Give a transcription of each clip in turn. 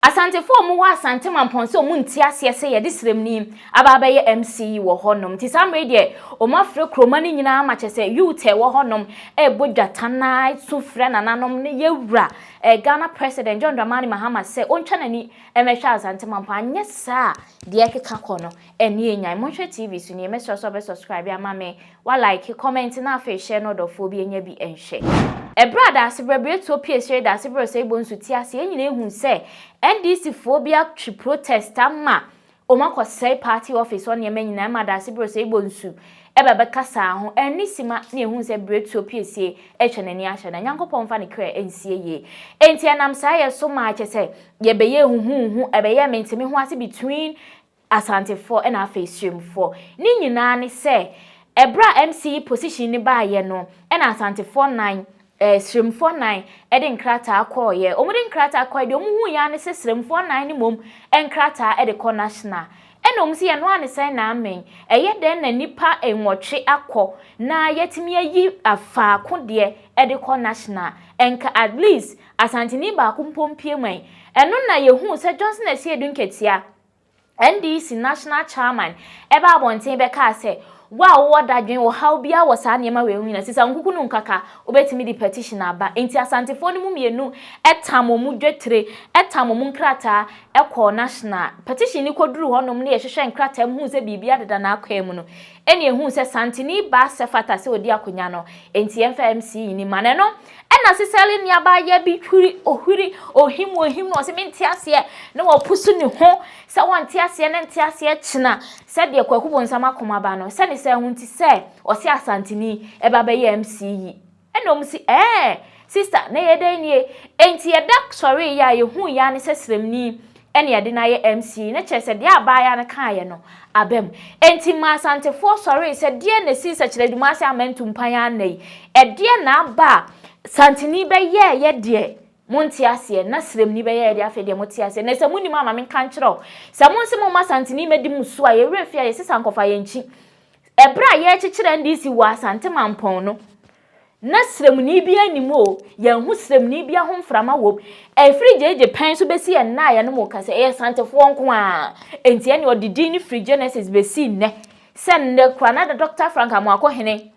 Asantefo a wɔwɔ Asante mampɔn sɛ wɔn nte aseɛ sɛ yɛde sremni aba abɛyɛ MC wɔ hɔ nom. Nti saa mmerɛ yi deɛ wɔn afrɛ kuroma no nyinaa ma kyerɛ sɛ youth a ɛwɔ hɔ nom ɛrebɔ dwata na ɛsu frɛ nananom ne yɛwura eh Ghana President John Dramani Mahama sɛ ɔntwa n'ani mmɛhwɛ Asante mampɔn anyɛ saa a deɛ ɛkeka kɔ no Ɛneɛ nyan monhwɛ TV so nie mɛsrɛ sɛ ɔbɛ subscribe ama me wa like comment na afei share na ɔdɔfoɔ bi ɛnyɛ bi ɛnhwɛ. Ɛberɛ a Daasebrɛ Biretuo pue sree Daasebrɛ Osaigbo nso ti ase yɛn nyinaa hu sɛ NDC foɔ bi atwe protest ama wɔn akɔ sɛe party office hɔ nneɛma nyinaa ɛma Daasebrɛ Osaigbo nsu ɛba bɛkasaa ho ɛne sima na yɛhu sɛ Biretuo pue sie ɛtwa n'ani ahyɛ na Nyankopɔn mfa ne kra ɛnsie yie enti ɛnam saa yɛ so maa kyɛ sɛ yɛbɛyɛ huhuuhu ɛbɛyɛ mente me ho ase between Asantefoɔ na afei Surimfoɔ. Ne nyinaa ne sɛ, ɛberɛ a MC yi position no baeɛ no, ɛna Asantefoɔ nnan, ɛɛ, Surimfoɔ nnan de nkrataa kɔeɛ. Wɔde nkrataa kɔeɛ, deɛ wɔhuiɛ ara ne sɛ Surimfoɔ nnan no mmom nkrataa de kɔ National. Ɛna wɔn se yɛn noaa ne sɛn na amen, ɛyɛ dɛn na nnipa nwɔtwe akɔ na yɛatumi ayi faako deɛ de kɔ National. Nka at least Asanteni baako mpo mpue man. Ɛno na yɛhuu sɛ Johnson Asiedu Nketiah, NDC National Chairman baa abɔnten bɛkaa sɛ, Wo a wowɔ dadwen, ɔhaw biara wɔ saa nneɛma wei ho nyinaa, sisa nkuku no nkaka, wobɛtumi de petition aba. Enti Asantefoɔ no mu mmienu tam wɔn mu dwetire, tam wɔn mu nkrataa kɔɔ National. Petition no kɔduruu hɔnom ne yɛhwehwɛɛ nkrataa mu huu sɛ biribiara deda n'akwaa mu no, ɛnna yɛhuu sɛ Santini baa sɛ fata sɛ ɔdi akonnwa no, enti yɛmfa MC nni mu. Ana ɛno Ɛnna Sisera nuabaa Yabin huri ohuri ohim ohim na ɔse mente aseɛ na wapusu ne ho sɛ wɔnte aseɛ ne nte aseɛ kyena sɛdeɛ Kwaku Bonsam akoma ba no sɛne saa ho nti sɛ ɔse Asanteni ɛba bɛyɛ MC yi ɛnna ɔmo se ɛɛn sister na ɛyɛ dɛn nie enti yɛda sɔree yɛ a yɛhui yɛ ara ne sɛ srɛmni Ɛne yɛde no ayɛ MC no kyerɛ sɛ deɛ abaayaa no kaeɛ no aba mu. Enti ma Asantefoɔ sɔree sɛ deɛn na ɛsii sɛ Kyerɛdumase amantu mpan ara nnɛ yi? Ɛdeɛn na aba a Santini bɛyɛeɛ deɛ monte aseɛ na Siremni bɛyɛeɛ deɛ afei deɛ mote aseɛ? Na sɛ monim a ma menka nkyerɛ wo. Sɛ monse momma Santini mmɛdi mo so a, yɛn werɛ mfi a yɛsesa nkɔfa yɛn nkyi. Ɛberɛ a yɛrekyekyere NDC wɔ Asante Mampɔn no, Ná srɛmuni biara nni mu oo, yɛanhu srɛmuni biara ho mframa wom. Ɛfiri gyegye pɛn so bɛsi yɛn nnaeɛ no mu ka sɛ, ɛyɛ Santefoɔ nko ara. Enti ɛnneɛ ɔde din no firi Genesis bɛsi nnɛ. Sɛ nnɛ koraa na Dɔkta Frank Amoako Hene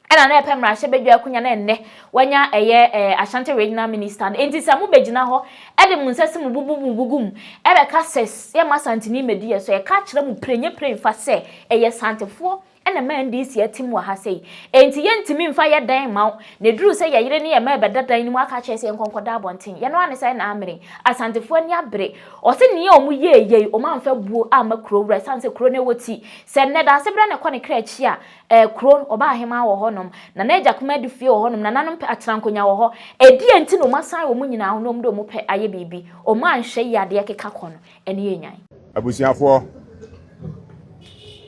ɛna na ɛpɛ mmarahyɛ badwa akunya na nnɛ wanya ɛyɛ eh, Ashanti Regional Minister no. Enti sɛ mobɛgyina hɔ ɛde mo nsa si mo bo bu mo bo gu mu ɛbɛka sɛ yɛmma Asanteni mmɛdi yɛn so, ɛka akyerɛ mo pirenye pirenfa sɛ ɛyɛ Santefoɔ Ɛna ɛma NDC atim wɔ ha sei. Enti yɛntumi mfa yɛ dan mma wo, na ɛduru sɛ yɛ yere ne yɛ mma rebɛda dan no mu aka akyerɛ sɛ yɛnkɔ nkɔda abɔnten. Yɛn ara ne saa ɛna amene. Asantefoɔ ani abere. Wɔse nea wɔn yɛɛ yei, wɔn amfa buo amma kuro wura ɛsiane sɛ kuro no wɔ ti. Sɛ nnɛ daase berɛ na ɛkɔ ne kra akyi a, eh, kuro, ɔbaa ahemaa wɔ hɔnom, Nana Agya Kumaa di fie wɔ hɔnom, nananom pɛ atenankonnwa wɔ hɔ. Ɛdeɛn nti na wɔn asan wɔn nyinaa ho na wɔn de wɔn pɛ ayɛ biribi? Wɔn anhwɛ yie adeɛ keka kɔ no, ɛne yɛn Nyan! Abusuafoɔ,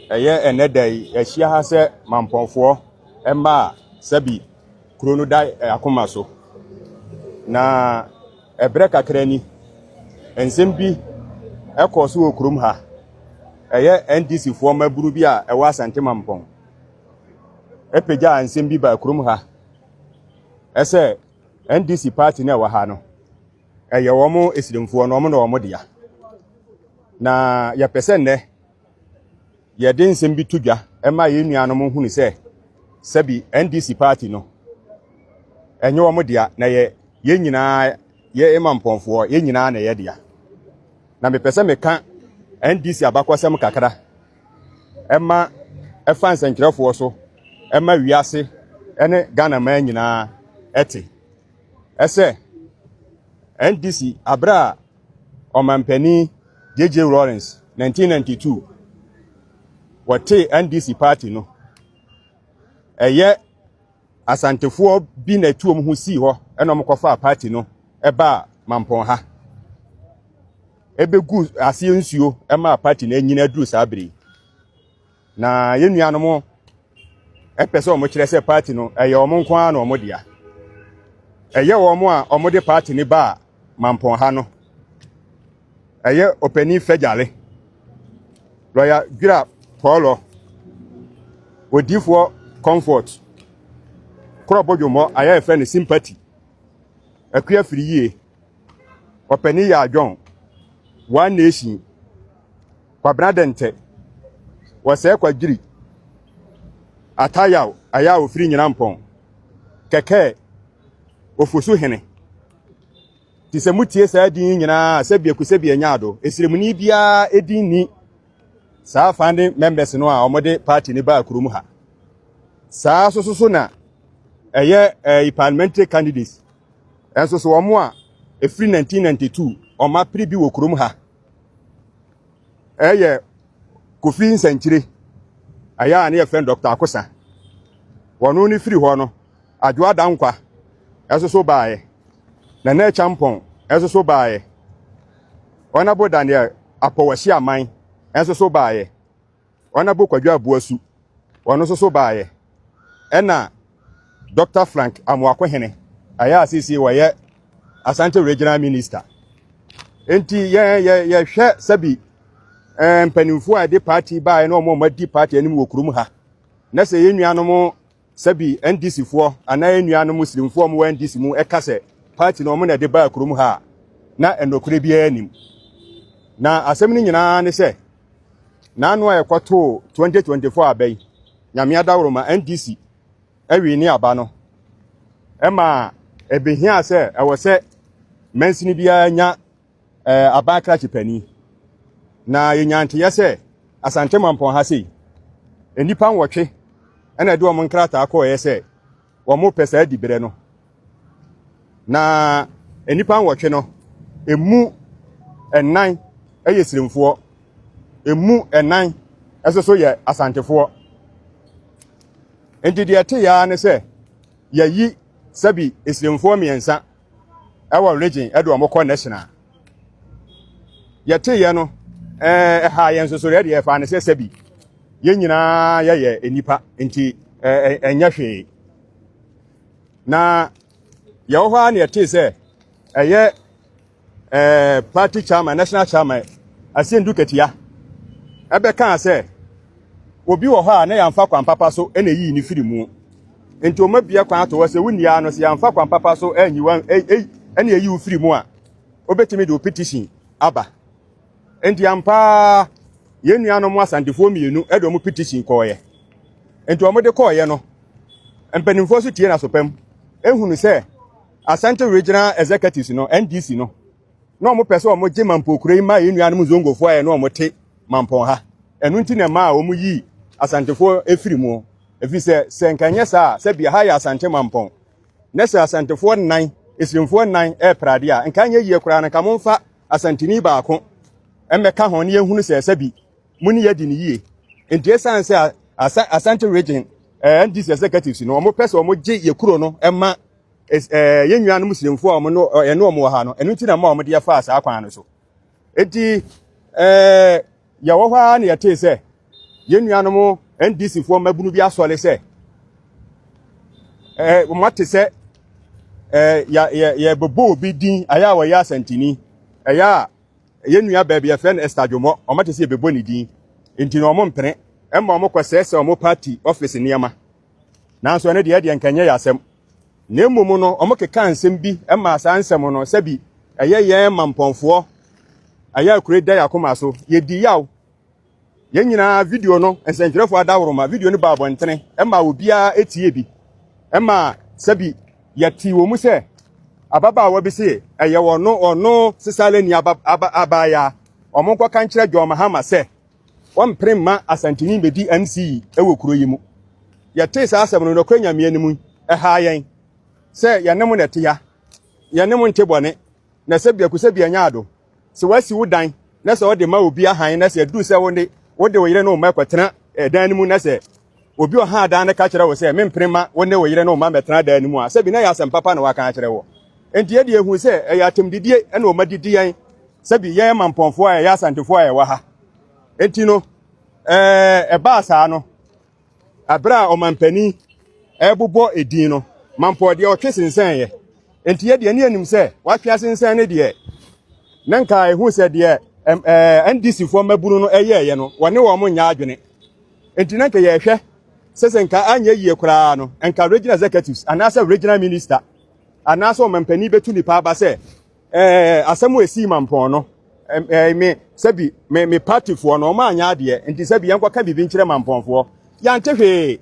ɛyɛ ɛnnɛ da yi yɛahyia ha sɛ Mampɔnfoɔ mma a sɛbi kuro no da eh, akoma so. Na ɛberɛ kakra ni, nsɛm bi ɛkɔɔ so wɔ kurom ha. Ɛyɛ NDCfoɔ mmabunu bi a ɛwɔ Asante Mampɔn. Ɛpagyaa nsɛm bi baa kurom ha. Ɛsɛ NDC party no a ɛwɔ ha no, Ɛyɛ wɔn asirimfoɔ no, wɔn na wɔn dea. Na yɛpɛ sɛ nnɛ yɛde nsɛm bi to dwa ma yɛn nuanom nhunu sɛ sɛbi NDC party no ɛnyɛ wɔn dea na yɛ yɛn nyinaa yɛ ema mpɔnfoɔ yɛn nyinaa na ɛyɛ dea. Na mepɛ sɛ meka NDC abakɔsɛm kakra ɛma ɛfa nsɛnkyerɛfoɔ so ɛma wiase ɛne Ghana man nyinaa ɛte. sɛ NDC bere a Ɔmanpanin JJ Rawlings, 1992, wɔtee NDC party no, ɛyɛ Asantefoɔ bi na ɛtu wɔn ho sii hɔ na wɔkɔfaa party no baa Mampɔn ha. Ɛbɛgu aseɛ nsuo maa party no anyini aduru saa bere yi. Na yɛn nuanom pɛ sɛ wɔkyerɛ sɛ paati no ɛyɛ wɔn nko ara na wɔn dea. Ɛyɛ wɔn a wɔde paati no baa mampɔn ha no. Ɛyɛ ɔpanin Fɛgyale, lɔya Dwira Pɔɔlɔ, odiifoɔ Comfort, Korɔbodwomɔ a yɛfrɛ no Sympathy, Akua Firiyie, Ɔpanin Yaa John, One Nation, Kwabena Dɛntɛ, Wɔsɛɛ Kwadwiri, Ata Yaw, Aya a ɔfiri Nyinampɔn, Kɛkɛɛ, Ofosu Hene. Te sɛ motie saa din yi nyinaa a, sɛbi aku sɛbi anya ado. Ɛsremuni biara din ni saa founding members no a wɔde party no baa kurom ha. Saa soso so na ɛyɛ eh, parliamentary candidates Nanso so wɔn a ɛfiri 1992 wɔn apere bi wɔ kurom ha ɛyɛ Kofi Nsɛnkyire ɛyɛ a ne yɛfrɛ Dr. Akosa wɔn ne firi hɔ no Adwo Adankwa ɛsoso baeɛ Nana Akyampɔn ɛsoso baeɛ Honorable Daniel Apɔwasi Aman ɛsoso baeɛ Honourable Kwadwo Aboasu, ɔno nso so baeɛ. Ɛna Dɔkta Frank Amoakohene, ɛyɛ a seesei wɔyɛ Asante Regional Minister. Nti yɛn yɛ yɛhwɛ sɛbi eh, mpanimfoɔ a ɛde party baeɛ na wɔn a wɔadi party anim wɔ kurom ha. Na sɛ yɛn nuanom Sɛ bi NDC foɔ anaa yɛn nuanom Muslimfoɔ a wɔn wɔ NDC mu ɛka sɛ party no wɔn na ɛde baa kurom ha a, na ɛnɔkorɛ biara nnim. Na asɛm no nyinaa ara ne sɛ, n'ano a ɛkɔ too 2024 aba yi, Nyame adaworoma NDC ɛwee ne aba no, ɛmaa ɛbehiaa sɛ ɛwɔ sɛ mansini biara nya eh, aban krakye panin. Na yɛnya nteyɛ sɛ Asante Mampɔn ha sei, nnipa nwɔtwe ɛna ɛde wɔn nkrataa kɔɔeɛ sɛ wɔn pɛ saa diberɛ no. Na nnipa nwɔtwe no, emu ɛnan ɛyɛ sirimfoɔ, emu ɛnan ɛso so yɛ asantefoɔ. Nti deɛ ɛte yaa ne sɛ yɛyi sɛbi esirimfoɔ mmiɛnsa ɛwɔ region ɛde wɔn kɔ national yɛte yɛ no ɛɛ ɛha yɛn soso yɛ deɛ ɛfa ne sɛ sɛbi yɛn nyinaa yɛyɛ nipa nti ɛɛ ɛnyɛ hwee na yɛwɔ hɔ ara na yɛte sɛ ɛyɛ ɛɛ party chairman national chairman asendu katia ɛbɛka sɛ obi wɔ hɔ a na yɛnfa kwan papa so ɛna eyi ne firi mu Enti wɔma bia kwan to hɔ sɛ wonni ara no, sɛ yɛamfa kwan papa so anyi wo ne ayi wo firi mu a, wobɛtumi de wo petition aba. Enti ampa ara yɛn nuanom Asantefoɔ mmienu de wɔn petition kɔɔeɛ. Enti wɔde kɔɔeɛ no, mpanimfoɔ so tie n'aso pam ehunu sɛ Asante Regional Executives no, NDC no, na wɔn pɛ sɛ wɔn gye Mampɔn kuro yi ma yɛn nuanom Zongofoɔ a yɛne wɔn te Mampɔn ha. Ɛno nti na ɛmaa wɔn yii Asantefoɔ efiri mu. efisɛ sɛ anka ɛnyɛ saa a, sɛ bia ha yɛ Asante mampɔn, na sɛ Asantefoɔ nnan, Asirimfoɔ nnan repra adeɛ a, nka anyɛ yie koraa no nka momfa Asanteni baako mmɛka ho na yɛnhunu sɛ sɛbi mo ne yɛdi no yie. Nti ɛsiane sɛ Asa Asante region eh, NDC executives no wɔpɛ sɛ wɔgye yɛ kuro no ma eh, yɛn nuanom Muslimfoɔ a wɔn no ɛne wɔn wɔ ha no, ɛno nti na ma wɔde yɛfaa saa kwan no so. Nti eh, Yɛwɔ hɔ ara na yɛtee sɛ yɛn nuanom NDCfoɔ mmabunu bi asɔre sɛ eh, wɔate sɛ eh, yɛbɛbɔ obi din ayɛ a wɔyɛ asantini ɛyɛ a yɛn nua baabi yɛfrɛ no Esther Dwomɔ wɔate sɛ yɛbɛbɔ ne din nti na wɔn mpene ɛma wɔn kɔsɛɛsɛ wɔn party office nneɛma Nanso ɛno deɛ, ɛdeɛ nka ɛnyɛ yɛn asɛm. Na mmom no, wɔkekaa nsɛm bi maa saa nsɛm no sɛ bi ɛyɛ yɛn mampɔnfoɔ ɛyɛ akure da yɛn akoma so. Yɛdi yaw. Yɛn nyinaa video no, nsɛntwerɛfoɔ adaworoma, video no baa abɔntene ɛmaa obiara tie bi. Ɛmaa sɛ bi yɛtee wɔ mu sɛ ababaawa bi se ɛyɛ ɔno ɔno Sesalani abaayaa. Wɔnkɔka nkyerɛ John Mahama sɛ Wɔmpere mma Asanteni mmedi NCE wɔ kuro yi mu. Yɛtee saa asɛm no, nokorɛ Nyame anim, ɛhaa yɛn sɛ yɛne mo na ɛte ha. Yɛne mo nte bɔne, na sɛ biako sɛ bi anya adom. Sɛ wɔasi wo dan na sɛ wɔde ma obi ahan na sɛ ɛduru sɛ wo ne wo de wo yere ne wo mma rekɔtena dan no mu na sɛ obi a ɔha dan no ka kyerɛ wo sɛ mempene mma wo ne wo yere ne wo mma mmɛtena dan no mu a, sɛ bi na ɛyɛ asɛm papa na waka akyerɛ wo. Enti yɛde yɛhu sɛ ɛyɛ atɛmdidie na wɔma didi yɛn, sɛ bi yɛn mampɔnfoɔ a ɛyɛ asantefoɔ a ɛwɔ ha. Enti no, ɛbaa saa no, berɛ a ɔmampanin ɛrebobɔ edin no, mampɔn deɛ ɔtwe sensɛneeɛ. Enti yɛ deɛ ne yɛnim sɛ watwe asensɛn ne deɛ, na nka ɛhu sɛ deɛ NDCfoɔ mmabunu no ɛyɛeɛ no, wɔne wɔn nyɛ adwene. Enti na nka yɛhwɛ sɛ sɛ nka anyɛ yie koraa no, nka regional executives anaasɛ regional minister anaasɛ ɔmampanin bɛtu nipa aba sɛ ɛɛ asɛm a ɛsii mampɔn no ɛɛ me sɛbi me me partyfoɔ no ɔma anyɛ adeɛ nti sɛbi yɛnkɔka biribi nkyerɛ mampɔnfoɔ yɛante hwee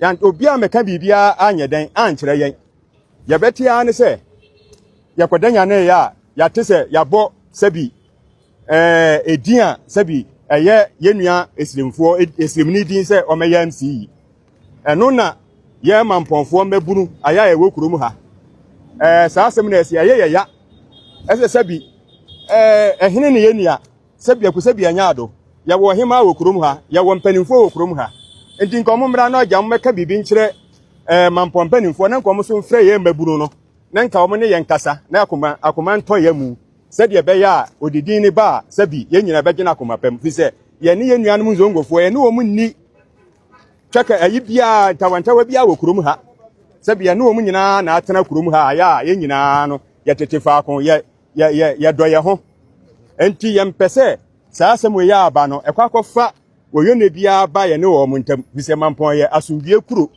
yɛn obi a mɛka biribiara anyɛ dɛn ankyerɛ yɛn yɛbɛte ara ne sɛ yɛkɔda nyaneeɛ a yɛate sɛ yɛabɔ sɛbi Ɛɛ edin a sɛbi ɛyɛ yɛn nua esirimfoɔ esirimni din sɛ ɔmɛyɛ MC yi ɛno na yɛ mampɔnfoɔ mmɛbunu ayɛ a ɛwɔ kurom ha ɛɛ saa asɛm na ɛsi ɛyɛ yɛ ya ɛsɛ sɛbi ɛɛ ɛhene ne yɛn nua sɛbi ɛku sɛbi ɛnyɛ ado yɛwɔ ɔhemaa wɔ kurom ha yɛwɔ mpanimfoɔ wɔ kurom ha nti nka ɔmo mmra na ɔgya ɔmo mɛka biribi nkyerɛ ɛɛ mampɔn mpanimfoɔ na nka ɔmo so mfrɛ yɛn mmɛbunu no na nka ɔmo ne yɛn kasa na akoma akoma ntɔ yɛn mu sɛdeɛ ɛbɛyɛ a ɔde din no ba a, sɛbi yɛn nyinaa bɛgye no akoma pa mu, firi sɛ yɛne yɛn nuanom Nzongofoɔ, yɛne wɔn nni twɛka ayi biara, ntawantawa biara wɔ kurom ha, sɛbi yɛne wɔn nyinaa na atena kurom ha, ayɛ a yɛn nyinaa no yɛtete faako, yɛ, yɛ, yɛ, yɛdɔ yɛn ho. Enti yɛmpɛ sɛ saa asɛm wei a aba no, ɛkɔ akɔfa wɔyɔnɛ biara ba yɛne wɔn ntam, firi sɛ Mampɔn yɛ asomdwie kuro.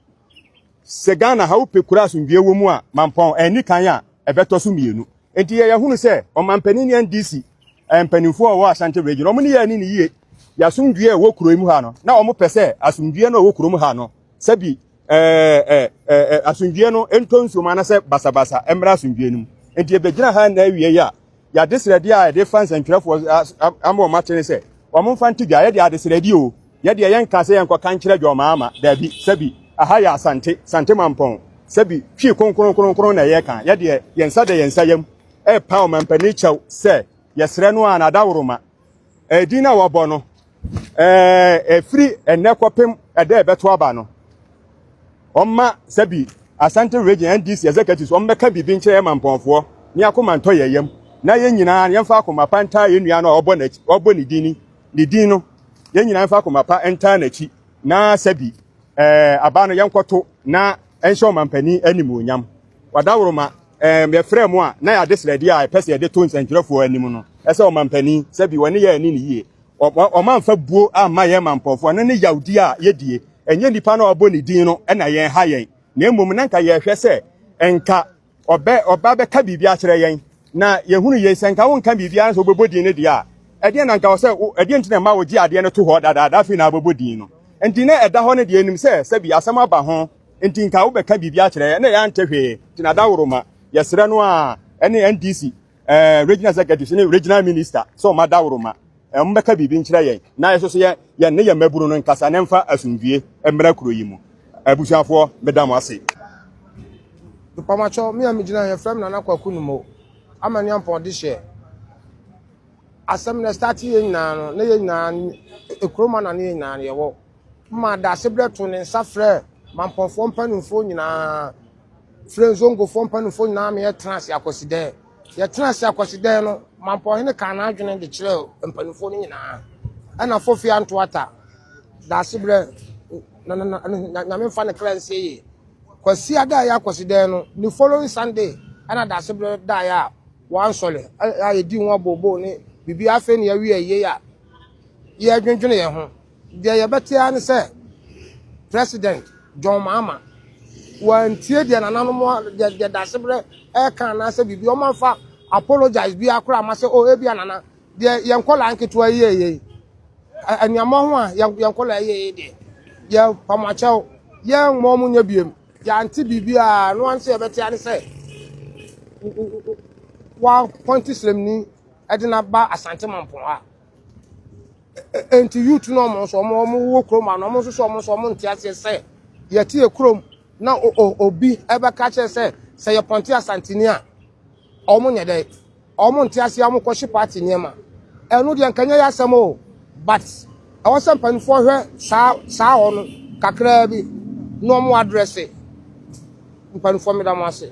Sɛ Ghana ha wopɛ kuro a asomdwie wɔ mu a, Mampɔn anni kan a ɛbɛtɔ so mmienu. Enti yɛyɛ hunu sɛ ɔmampanin ne NDC eh, mpanimfoɔ a wɔwɔ Ashanti region wɔn ne yɛ ani ne yie yɛ asomdwie a ɛwɔ kuro mu ha no na wɔpɛ sɛ asomdwie no a ɛwɔ kurom ha no sɛbi eh, eh, eh, eh, asomdwie no ntɔ nsuom anasɛ basabasa mmra asomdwie no mu. Enti yɛbɛgyina ha na awie yi a yɛadesrɛdeɛ a yɛde fa nsɛntwerɛfoɔ ama wɔn ate ne sɛ wɔn mfa nto dwa yɛde adesrɛdeɛ o Yɛ deɛ yɛnkaa sɛ yɛnkɔka nkyerɛ Dwɔmaama, daabi, sɛbi, aha yɛ Asante, Sante Mampɔn, sɛbi, Twi kronkron kronkron na yɛka, yɛ deɛ yɛn nsa da yɛn nsa yam repa Ɔmampanin kyɛw sɛ yɛsrɛ no ara na adaworoma eh, din a wɔbɔ no eh, ɛfiri ɛnnɛ kɔpem ɛda a ɛbɛto aba no, ɔmma sɛbi Asante Region NDC Executives ɔmmɛka biribi nkyerɛ yɛn Mampɔnfoɔ ne akoma ntɔ yɛn yam na yɛn nyinaa yɛmfa akoma pa ntaa yɛn nua no a ɔbɔ ne din ni. Ne din no, yɛn nyinaa mfa akoma pa ntaa n'akyi na sɛ bi aba no yɛnkɔto na ɛnhyɛ ɔmampanin animuonyam. Ɔdaworoma, yɛfrɛɛ mo a na yɛade srɛdeɛ a ɛpɛ sɛ yɛde to nsɛntwerɛfoɔ anim no sɛ ɔmampanin, sɛ bi wɔne yɛn anni no yie. Ɔmamfa buo amma yɛn mampɔfoɔ no ne yawdie a yɛdie. Ɛnyɛ nnipa no a wɔbɔ ne din no na yɛn ha yɛn, na mmom na nka yɛhwɛ sɛ nka ɔbɛ ɔba bɛka biribi akyerɛ yɛn na yɛhunu yei sɛ nka wonka biribi ara sɛ wobɛbɔ din no deɛ a ɛdeɛ na nka wɔ sɛ ɛdeɛ nti na ɛma wogye adeɛ no to hɔ dadaada afei na abɛbɔ din no nti na ɛda hɔ no deɛ nim sɛ sɛbi asɛm aba ho nti nka wobɛka biribi akyerɛ yɛn na yɛante hwee nti na daworo ma yɛsrɛ no a ɛne NDC ɛɛ eh, regional executive ne regional minister sɛ ɔma daworo ma eh, wɔn bɛka biribi nkyerɛ yɛn na yɛn nso yɛn yɛn ne yɛn mmabunu no nkasa na mfa asomdwie mmara kuro yi mu abusuafoɔ meda mo ase. mpamakyɛw me a megyina yɛfrɛ m nana kwaku no mo ama ne ampɔn de hyɛ asɛm na ɛstate yɛ nyinaa no na yɛ nyinaa ɛkuro ma na ne yɛ nyinaa no yɛwɔ ma daase berɛ to ne nsa frɛ mampɔnfoɔ mpanimfoɔ nyinaa frɛɛ Nzongofoɔ mpanimfoɔ nyinaa ma yɛtenaa ase akwasidɛɛ. Yɛtenaa ase akwasidɛɛ no, Mampɔhene kaa n'adwene de kyerɛɛ mpanimfoɔ no nyinaa. Ɛna Fofi Antoata, Daasebrɛ, na na na na Nyame mfa ne kra nsie yie. Kwasia da a ɛyɛ akwasidɛɛ no, ne following Sunday ɛna Daasebrɛ daeɛ a wɔansɔre a yɛdii ho abooboo ne biribiara afei na yɛawie ayie a yɛdwendwene yɛn ho. Deɛ yɛbɛte ara ne sɛ President John Mahama wantie deɛ nananom deɛ deɛ dasebrɛ ɛka anaasɛ biribi wɔn amfa apologize bi akora ama sɛ oh ebi anana deɛ yɛn nkɔla nketewa yie yie nneɛma ho a yɛn nkɔla yie yie deɛ yɛ pamakyɛw yɛn mmɔ wɔn nyɛ biem yɛante biribi a no anso yɛbɛte ara ne sɛ wɔapɔnte sremni ɛde n'aba asante mampɔn a. Enti youth no ɔmo nso ɔmo ɔmo wɔ kurom ano ɔmo nso so ɔmo nso ɔmo nte aseɛ sɛ yɛte yɛ kurom na obi ɛbɛka kyerɛ sɛ sɛ yɛ pɔnte asantini a ɔmo nyɛ dɛ ɔmo nte aseɛ ɔmo kɔhye party nneɛma ɛno deɛ nkanyɛ yɛ asɛm o but ɛwɔ sɛ mpanimfoɔ hwɛ saa saa hɔ no kakraa bi na ɔmo adrɛse mpanimfoɔ meda mo ase.